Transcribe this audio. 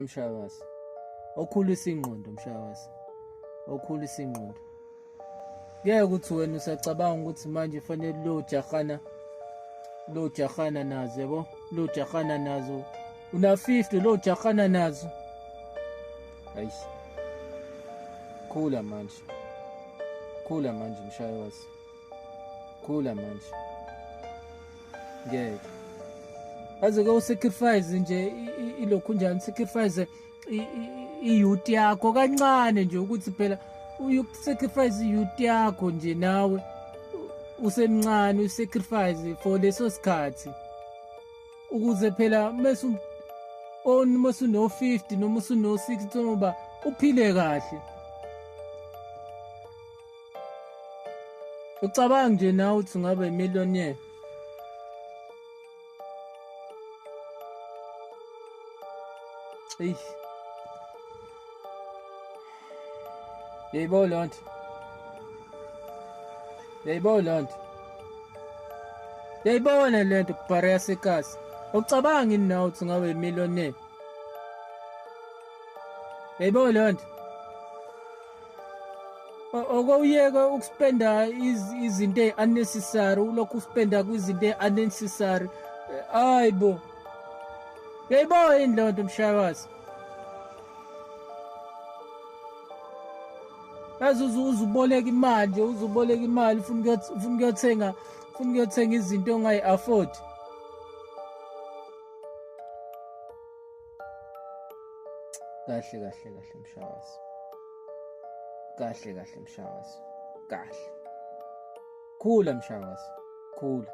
mshayakazi okhulisa ingqondo mshayakazi okhulisa ingqondo ngeke ukuthi wena usacabanga ukuthi manje fanele lo jahana lo jahana nazo yabo lo jahana nazo una 50 lo jahana nazo ayi khula manje khula manje mshayakazi khula manje ngeke aze ke usacrifice nje ilokhu njani sacrifice iyouth yakho kancane nje ukuthi phela usacrifice iyouth yakho nje nawe usemncane usacrifice for leso sikhathi ukuze phela mase on mase no 50 noma usuno 60 noma uphile kahle Ucabanga nje nawe ukuthi ungaba imillionaire. Eyi. Yebo loo nto. Yebo loo nto. Yayibona le nto kubhareya sekasi. Ucabanga ini nawe ukuthi ungaba imillionaire? Yebo loo nto. okowuyeke ukuspenda izinto ey-unnecessary ulokhu uspenda kwizinto ey-unnecessary hayi bo yayibo yini leyo nto mshayakazi yazi uzuboleka imali nje uzuboleka imali ufuna ukuyothenga ufuna ukuyothenga izinto ongayi-afford kahle kahle kahle mshakazi kahle kahle mshakazi kahle khula mshakazi khula